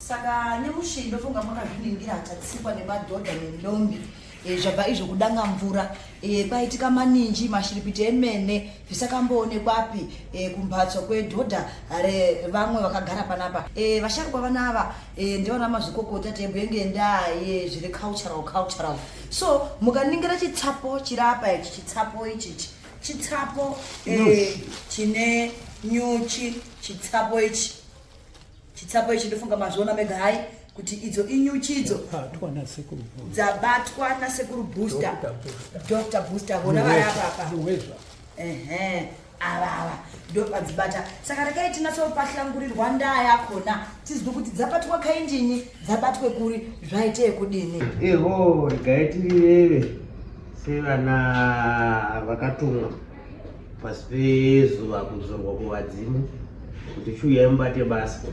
saka nemushiri ndofunga makazviningira achatsikwa nemadhodha nendombi eh, zvabva izvo kudanga mvura eh, kwaitika maninji mashiripiti emene zvisakamboonekwapi eh, kumbatso kwedhodha revamwe vakagara panapa vasharukwa vana ava ndivana mazvikokota tebwe ngendaa yezviri cultural cultural so mukaningira chitsapo chiri apa ichi chitsapo ichichi chitsapo chine nyuchi chitsapo ichi chitsapo ichi ndofunga mazviona mega hai kuti idzo inyuchi idzo dzabatwa nasekuru booster dr booster vona vari apapa ehe avava ndopadzibata saka rekai tinatsopahlangurirwa ndaa yakona tizive kuti dzabatwa kaindini dzabatwe kuri zvaite ekudini eho regai tirireve sevana vakatumwa pasi pezuva kudzorwa kuvadzimu kuti chiuyai mubate basa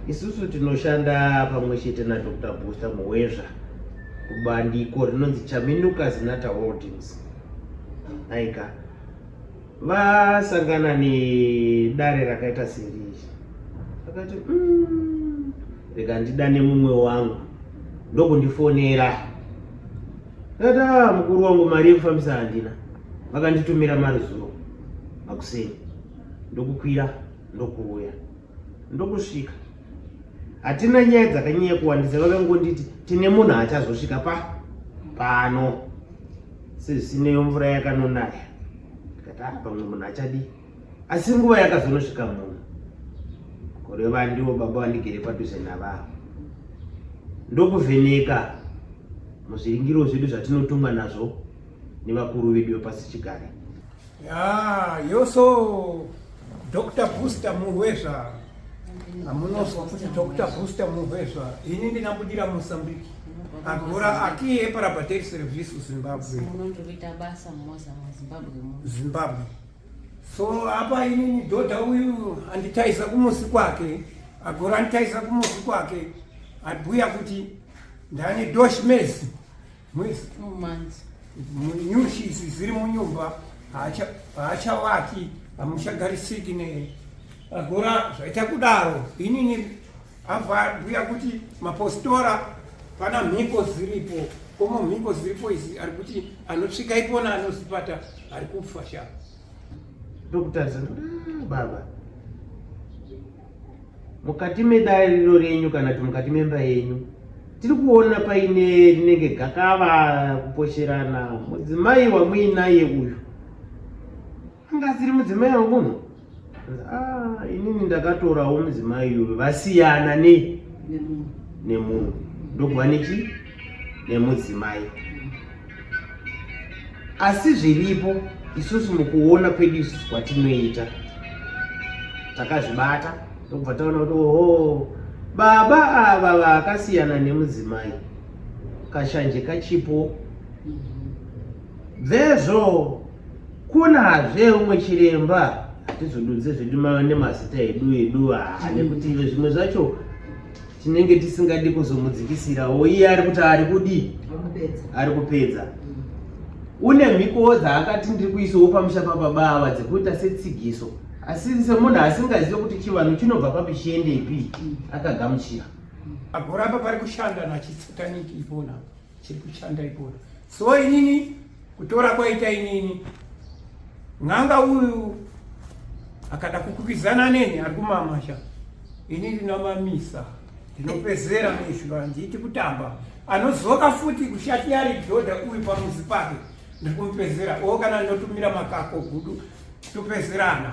isusu tinoshanda pamwe chete nadr booster muwezva kubandiko rinonzi chaminuka zinata holdings aika vasangana nedare rakaita seri akati mm, rega ndidane mumwe wangu ndokundifonera Tata mukuru wangu mari yekufambisa handina. Vakanditumira mari zuro makuseni. Ndokukwira ndokuuya. Ndokusvika. Hatina nyaya dzakanyanya kuwandisa vakangonditi tine munhu achazosvika pa pano. Sezvisinei mvura yakanonaya. Ndikati ah pamwe munhu achadii? asi nguva yakazonosvika muno kureva ndivo baba vandigere padhuze navavo ndokuvheneka muzviringiro zvedu zvatinotongwa nazvo nevakuru vedu vepasi chigare ya yoso dr booster murwezva amunozwa kuti dr booster murwezva ini ndinabudira mosambiki agora akiye parabateri service zimbabwe zimbabwe so apa inini dhodha uyu anditaisa kumusi kwake agora anditaisa kumusi kwake abhuya kuti ndane dosh mesi mwesi nyushisi ziri munyumba haachawaki hamuchagarisiki ne agora zvaita kudaro inini Abhuya kuti mapostora pana mhiko ziripo komo mhiko ziripo izi ari kuti anosvika ipona anozipata ari kufa sha ndokutarisa ah, baba mukati medariro renyu kana kuti mukati memba yenyu tiri kuona paine rinenge gakava kuposherana mudzimai wamuinaye uyu Ndasiri mudzimai wangu uno. Ah, inini ndakatorawo mudzimai uyu vasiyana ne nemunhu. Ndogwa nechi nemudzimai. Asi zviripo isusu mukuona kwedu isusu kwatinoita takazvibata tobva taona kuti oho baba ava vakasiyana nemudzimai kashanje kachipo mm-hmm. vezvo kunazve umwe chiremba hatizodunze zvedu mave nemazita edu edu haa nekuti ive zvimwe zvacho tinenge tisingadi kuzomudzikisirawo iye ari kuti ari kudii ari kupedza une mhikowo dzaakati ndiri kuisawo pamusha pababava dzekuita setsigiso asi semunhu asingazive kuti chivanhu chinobva papi chiende ipi akagamuchira agoramba pari kushanda nachitsataniki ipona chiri kushanda ipoda so inini kutora kwaita inini n'anga uyu akada kukwikwidzana neni ari kumamasha ini ndinamamisa ndinopezera mizviro handiiti kutamba anozoka futi kushati ari dhodha uyu pamuzi pake ndiri kumupezera o kana ndinotumira makako gudu topezerana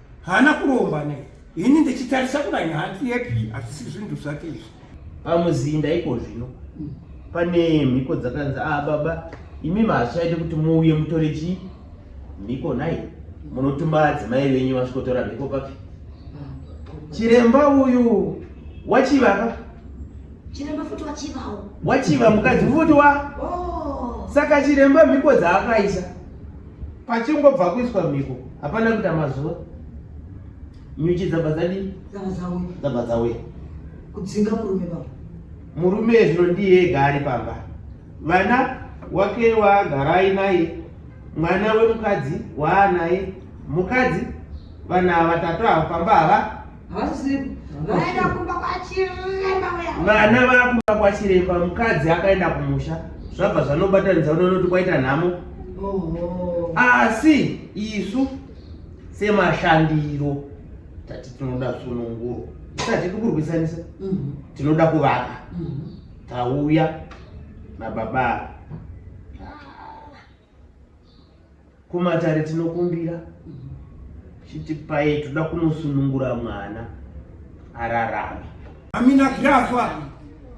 haana kuromba ne ini ndichitarisa kudai hanzi yepi hazvisi zvinhu zvake izvi pamuzinda iko zvino pane mhiko dzakanzi a ah, baba imi mahachaite kuti muuye mutore chii mhiko nhai munotuma adzimai venyu vasvikotora mhiko papi chiremba uyu wachivaka chiremba futi wachivawo wachiva mukadzi futi wa oh. saka chiremba mhiko dzaakaisa pachingobva kuiswa mhiko hapana kuita mazuva nyuchi dzabva dzadii dzabva dzauya kudzinga murume pamba murume zvino ndiye ega ari pamba vana wake waagarai naye mwana wemukadzi waanaye mukadzi vana vatatu ava pamba hava vana vakumba kwachiremba mukadzi akaenda kumusha zvabva zvanobatanidza unoona kuti kwaita nhamo asi isu semashandiro tati tinoda sununguro isati tikurwisanisa mhm. tinoda kuvaka mhm. tauya nababa kumatare tinokumbira chiti paye toda kunosunungura mwana ararame amina grafa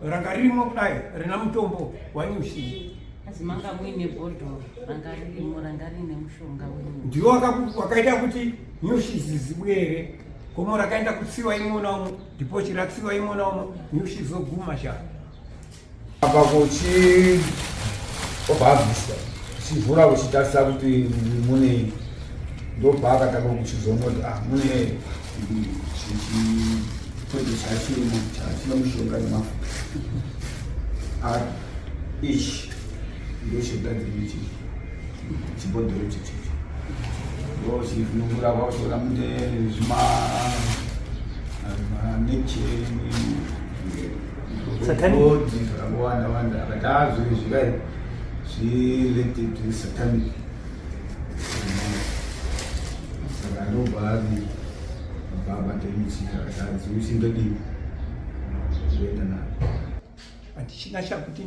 ranga ririmo kudai rina mutombo wanyushii asi manga muine bhodhoro ranga ririmo ranga riine mushonga wenyu ndiwo wakaita kuti nyushi zizibuye here gomo rakaenda kutsiwa imwe naumwe ndipo chiratsiwa imwe naumwe nyushi zoguma shaa apa kuchi obva abvisa chivhura kuchitarisa kuti mune ndobva akatanga kuchizoona kuti ah mune chikwete chachirimo chachina mushonga nemafuta ah, ichi ndochigadzirei chichi chibhodhoro chichichi ndochivhunungura kwakutoona mune zvima ah, neceni satanic akawanda wanda akati ah zvinhu zvikai zviletted to satanic saka ndobva ari baba temuchika akati usi ndodii ndoenda navo handichina chakuti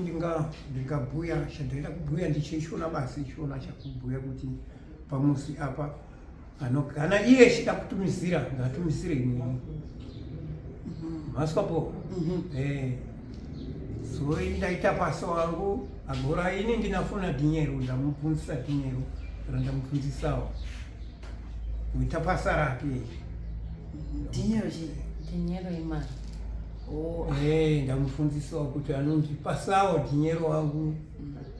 ndingabhuya chandinoita kubhuya ndichishona basi chishona chakubhuya kuti pamusi apa Ano kana iye chida kutumizira ngatumizire imweni maswapo eh so indaita paso wangu agora ini ndinafuna dinyero ndamubvunzisa dinyero kana ndamubvunzisawo kuita basa rake Dinyero chii? Dinyero imari. Oh, Eh, ndamufundisawo kuti anondipasawo dinyero wangu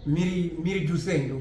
miri miri dusendo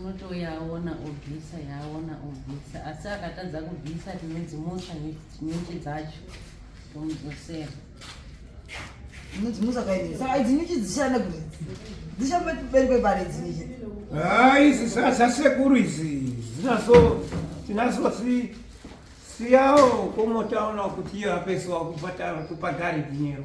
unotouya aona obvisa yaaona obvisa asi akatadza kubvisa tinodzimutsa nyuchi dzacho tomudzosera unodzimutsa kaini saka idzi nyuchi dzichishanda kuti dzishamba peri kwepari idzi nyuchi hai izi zvasekuru izi dzinaso tinaso si siyawo komotaona kuti iyo apesiwa kubhadhari dinero